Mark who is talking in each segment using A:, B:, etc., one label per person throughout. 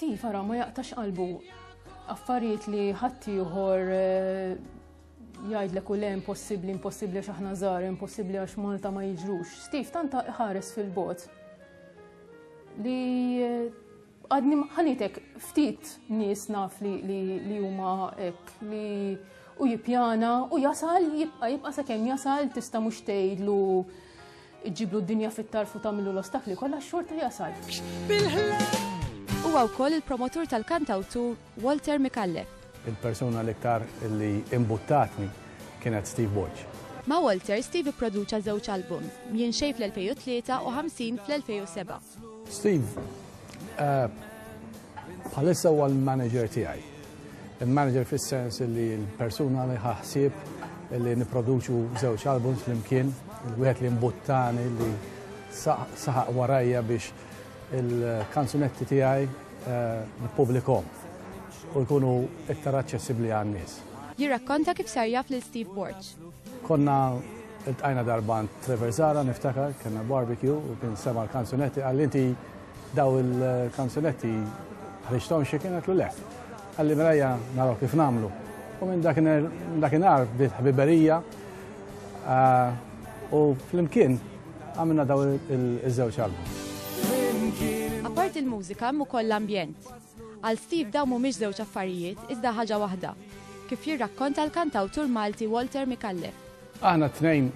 A: Steve ara ma jaqtax qalbu affarijiet li ħaddieħor eh, jgħidlek u le impossibbli, impossibbli għax aħna żgħar, impossibbli għax Malta ma jiġrux. Steve tanta ħares fil-bot li eh, għadni ħanitek ftit nies naf li huma hekk li u jipjana u jasal jibqa jibqa sakemm jasal tista' mhux tgħidlu Iġġiblu d-dinja fit-tarf u tagħmillu l-ostakli kollha xorta jasal. Huwa
B: wkoll il-promotur tal-kantawtur Walter Micallef. Il-persuna l-iktar
C: li imbuttatni kienet Steve Borg. Ma' Walter,
B: Steve ipproduċa żewġ albums, Mjin Xejn fl-2003 u Ħamsin fl-2007. Steve,
C: eh, bħalissa huwa l-manager tiegħi. Il-manager fis-sens li l-persuna li ħaħsib li niproduċu żewġ albums flimkien, il-wieħed li mbuttani li saħaq warajja biex il-kanzunetti tiegħi eh, nippubblikom u jkunu iktar aċċessibbli għan-nies. Jirrakkonta kif
B: sar jaf lil Steve Borch. Konna
C: il-tqajna darba Trevor Zara niftakar, kena barbecue u kien sema l-kanzunetti, għalli inti daw il-kanzunetti ħriġtom xie kien għatlu le. Għalli mrajja naraw kif namlu. U minn dakinhar bdiet ħbiberija ah, u flimkien għamilna daw il-żewġ album.
B: Apart il-mużika hemm ukoll l-ambjent. Għal Steve dawn mhumiex żewġ affarijiet, iżda ħaġa waħda, kif jirrakkonta l-kantawtur Malti Walter Micallef. Aħna t-tnejn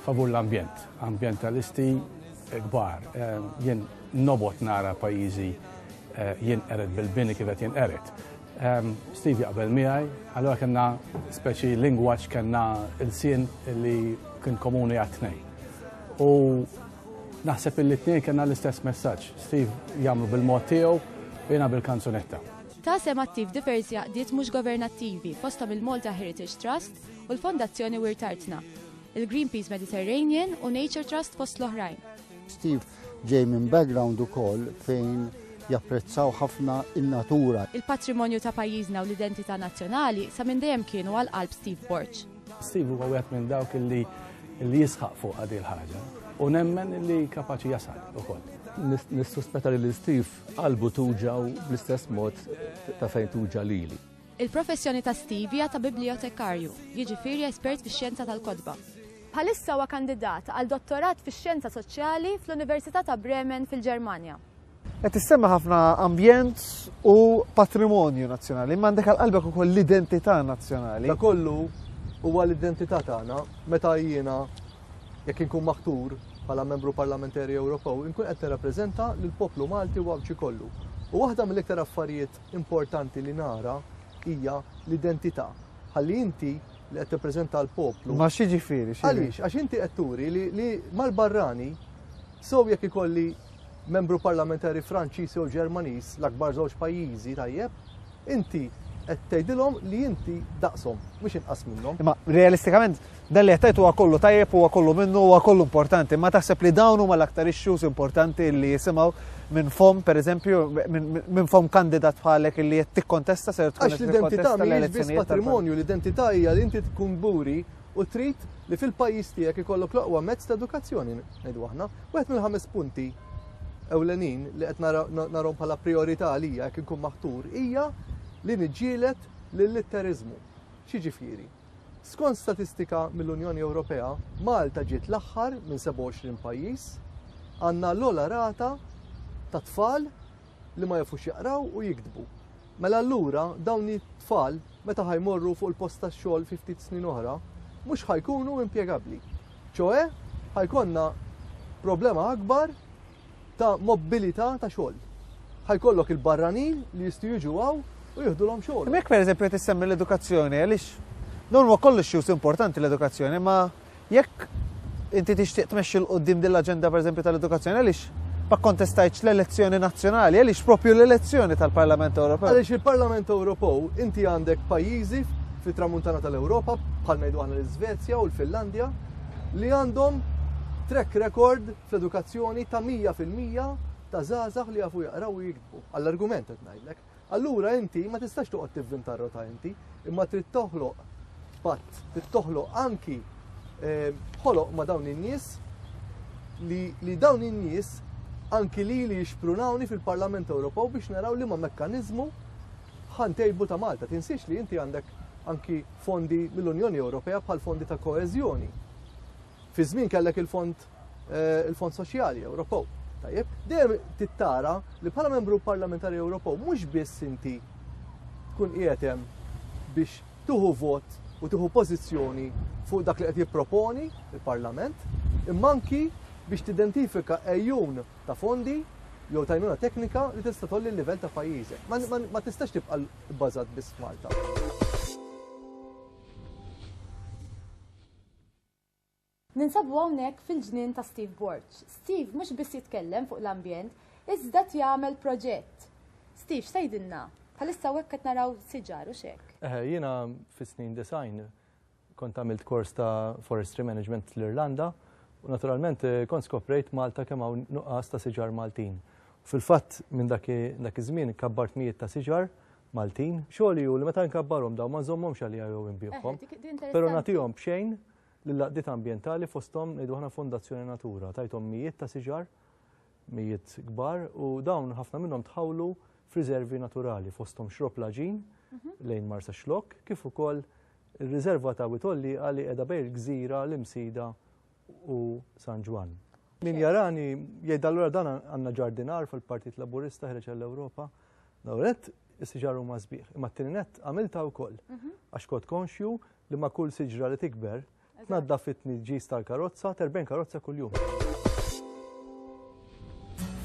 C: favur l-ambjent, ambjentalisti kbar. Jien nobgħod nara pajjiżi jinqered bil-bini kif qed jinqered. Steve jaqbel miegħi, allura kellna speċi lingwaġġ kellna ilsien li kien komuni għat-tnejn. U Naħseb illi t-tnejn kellna l-istess messaġġ, Steve jagħmlu bil-mod tiegħu, jiena bil-kanzunetta. Ta sehem attiv
B: diversi għaqdiet mhux governattivi fosthom il-Malta Heritage Trust u l-Fondazzjoni Wirt Artna, il-Greenpeace Mediterranean u Nature Trust fost l-oħrajn. Steve
D: ġej minn background ukoll fejn japprezzaw ħafna in-natura. Il-patrimonju ta'
B: pajjiżna u l-identità nazzjonali sa minn dejjem kienu għal qalb Steve Borg. Steve huwa wieħed
C: minn dawk li li jisħaq fuq għadi l-ħaġa u nemmen li kapaċi jasal ukoll. Nissuspetta
E: li Steve qalbu tuġa u bl-istess mod ta' fejn tuġa lili. Il-professjoni ta'
B: Steve hija ta' bibliotekarju, jiġifieri espert fix-xjenza tal-kotba. Bħalissa huwa kandidat għal dottorat fix-xjenza soċjali fl-Università ta' Bremen fil-Ġermanja. Qed issemma
F: ħafna ambjent u patrimonju nazzjonali, imma għandek għal qalbek ukoll l-identità nazzjonali. Da kollu
E: huwa l-identità tagħna meta jiena jekk inkun maħtur bħala membru parlamentari Ewropew, inkun qed nirrappreżenta lill poplu Malti u għawċi kollu. U waħda mill-iktar affarijiet importanti li nara hija l-identità. Ħalli inti li qed tippreżenta l-poplu. Ma xi ġifieri,
F: Għaliex, għax inti qed
E: turi li mal-barrani sew jekk ikolli Membru Parlamentari Franċiż jew Ġermaniż, l-akbar żewġ pajjiżi tajjeb, inti qed tgħidilhom li inti daqshom, mhux inqas minnhom. Imma realistikament
F: dan li qed huwa kollu tajjeb, huwa kollu minnu, huwa kollu importanti, ma taħseb li dawn huma l-aktar issues importanti li jisimgħu minn fom, per eżempju, minn fom kandidat bħalek li qed tikkontesta ser tkun. Għax l-identità mhijiex
E: biss patrimonju, l-identità hija li inti tkun buri u trid li fil-pajjiż tiegħek ikollok l-oqwa mezz ta' edukazzjoni ngħidu aħna. Wieħed mill-ħames punti ewlenin li qed narhom bħala priorità għalija jekk inkun maħtur hija li niġġielet lill-litteriżmu. Xiġifieri? Skont statistika mill-Unjoni Ewropea, Malta ġiet l-aħħar minn 27 pajjiż għandna l-ola rata ta' tfal li ma jafux jaqraw u jiktbu. Mela allura dawn it-tfal meta ħajmorru fuq il-post tax-xogħol fi ftit snin oħra, mhux ħajkunu impjegabbli. ċoe ħajkonna problema akbar ta' mobilità ta' xogħol. Ħajkollok il-barranin li jistgħu jiġu għaw u jihdulhom xogħol. Mek pereżempju qed issemmi
F: l-edukazzjoni għaliex Norma kollox xjuż importanti l-edukazzjoni, ma Jekk inti tixtieq tmexxi 'l quddiem din l-aġenda pereżempju tal-edukazzjoni, għaliex ma kkontestajtx l-elezzjoni nazzjonali? Għaliex proprju l-elezzjoni tal-Parlament Ewropew? Għaliex il-Parlament
E: Ewropew inti għandek pajjiżi fit-Tramuntana tal-Ewropa, bħal ngħidu aħna l-Iżvezja u l-Finlandja, li għandhom track record fl-edukazzjoni ta' 100% ta' żgħażagħ li jafu jaqraw u jiktbu. Għall-argument qed ngħidlek. Allura inti ma tistax toqgħod tivvinta r-rota inti, imma trid toħloq patt, trid toħloq anki eh, ħoloq ma' dawn in-nies li, li dawn in-nies anki li li jixprunawni fil-Parlament Ewropew biex naraw li ma' mekkaniżmu ħantejbu ta' Malta. Tinsiex li inti għandek anki fondi mill-Unjoni Ewropea bħal fondi ta' koeżjoni. Fi żmien kellek il-fond eh, il-Fond Soċjali Ewropew. Tajjeb, dejjem tittara li bħala membru parlamentari Ewropew mhux biss inti tkun qiegħed hemm biex tuħu vot u tuħu pożizzjoni fuq dak li qed jipproponi il-Parlament, imma anki biex tidentifika ejjun ta' fondi jew tajnuna teknika li tista' tolli l-livell ta' pajjiżek. Ma tistax tibqa' bbażat biss Malta.
B: Ninsabu hawnhekk fil-ġnien ta' Steve Borg. Steve mhux biss jitkellem fuq l-ambjent, iżda qed jagħmel proġett. Steve, x'tgħidilna? Bħalissa hawnhekk qed naraw siġar, hux hekk? Eħe, jiena
E: fis-snin disgħin kont għamilt kors ta' Forestry Management l-Irlanda u naturalment kont skoprejt Malta kemm hawn nuqqas ta' siġar Maltin. Fil-fatt minn dak iż-żmien kabbart mijiet ta' siġar Maltin. Xogħli hu li meta nkabbarhom dawn ma nżommhomx għalija jew inbigħhom, però nagħtihom b'xejn Lill-għaqdiet ambjentali fosthom ngħidu aħna Fondazzjoni Natura tajthom mijiet ta' siġar, mijiet kbar u dawn ħafna minnhom tħawlu f'riservi naturali fosthom Xropp Laġin lejn Marsaxlokk kif ukoll ir-riserva ta' Wied Għollieqa li qiegħda bejn il-gżira l-Imsida u San Ġwann. Min jarani jgħid allura dan għandna ġardinar fil-Partit Laburista ħreġ għall-Ewropa. L-ewwel nett is-siġar huma sbieħ, imma t-tieni nett għamiltha wkoll għax kont konxju li ma' kull siġra li tikber, tnaddaf it-tniġġis tal-karozza, terben karozza kuljum.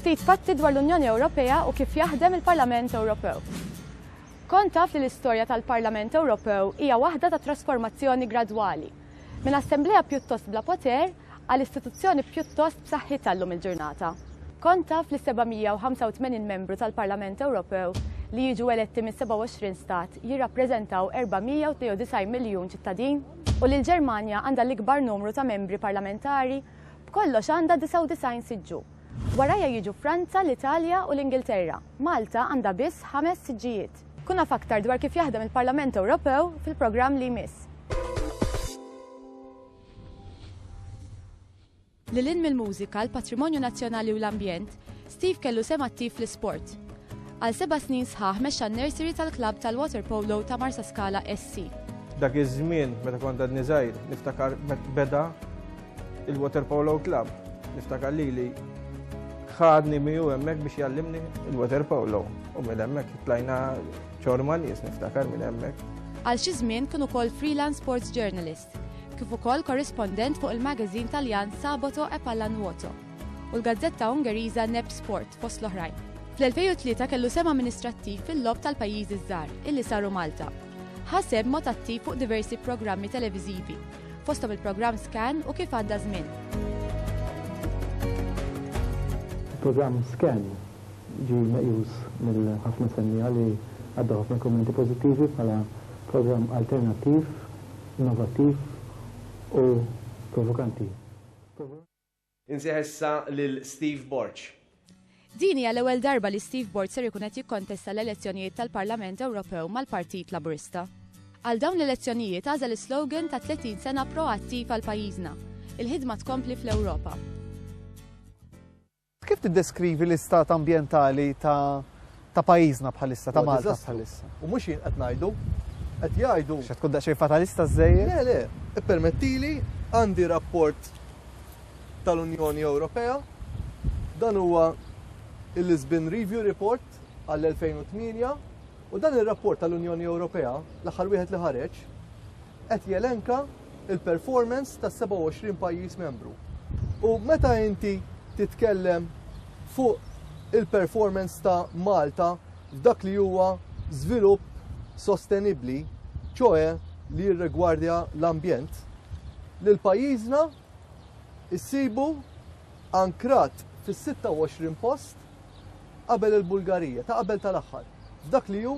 B: Ftit fatti dwar l-Unjoni Ewropea u kif jaħdem il-Parlament Ewropew. Kont taf li l-istorja tal-Parlament Ewropew hija waħda ta' trasformazzjoni gradwali. Minn assemblea pjuttost bla poter, għal istituzzjoni pjuttost b'saħħitha llum il-ġurnata. Kont taf li s-785 membru tal-Parlament Ewropew li jiġu eletti mis-27 stat jirrappreżentaw 492 miljun ċittadin? U li l-Ġermanja għandha l-ikbar numru ta' membri parlamentari, b'kollox għandha 99 siġġu. Warajha jiġu Franza, l-Italja u l-Ingilterra. Malta għandha biss ħames siġġijiet. Kun af aktar dwar kif jaħdem il-Parlament Ewropew fil-programm li jmiss. Lil hinn mill-mużika, l-patrimonju nazzjonali u l-ambjent, Steve kellu sehem attiv fl-isport. Għal seba' snin sħaħ mexxa n-nursery tal-klabb tal-waterpolo ta' Marsaskala SC. Dak iż-żmien
G: meta kont għadni żgħir, niftakar meta beda l-waterpolo klabb. Niftakar lili ħadni miegħu hemmhekk biex jgħallimni l-waterpolo u minn hemmhekk tlajna ċorma nies niftakar minn hemmhekk. Għal xi żmien kien
B: ukoll freelance sports journalist. kif ukoll korrispondent fuq il-magazine Taljan Sabato e Pallanuoto u l-gazzetta Ungeriża Nep Sport fost l-oħrajn. Fl-2003 kellu sehem amministrattiv fil-logħob tal-pajjiżi ż-żgħar illi saru Malta. Ħa sehem b'mod attiv fuq diversi programmi televiżivi, fosthom il-programm Scan u Kif Għadda Żmien.
H: Il-programm Scan ġie meqjus mill ħafna semmiegħa li għaddew ħafna kummenti pożittivi bħala programm alternattiv innovattiv u provokanti. Insejħ
I: issa lil Steve Borg. Din hija
B: l-ewwel darba li Steve Borg ser ikun qed jikkontesta l-elezzjonijiet tal-Parlament Ewropew mal-Partit Laburista. Għal dawn l-elezzjonijiet għażel is-slogan ta' 30 sena proattiv għal pajjiżna, Il-ħidma tkompli fl-Ewropa.
F: Kif tiddeskrivi l-istat ambjentali ta' pajjiżna bħalissa, ta' Malta bħalissa? U mhux jien qed ngħidu,
E: qed jgħidu. X'qed tkun daqsxejn fatalista
F: żżejjed? Le, le,
E: ippermettili, għandi rapport tal-Unjoni Ewropea, dan huwa il-Lisbon Review Report għall-2008, u dan ir-rapport tal-Unjoni Ewropea, l-aħħar wieħed li ħareġ, qed jelenka l-performance tas-27 pajjiż membru. U meta inti titkellem fuq il-performance ta' Malta f'dak li huwa żvilupp sostenibbli, ċoe li jirregwardja l-ambjent, li l-pajjiżna issibu ankrat fis-26 post qabel il-Bulgarija, ta' qabel tal-aħħar, f'dak li hu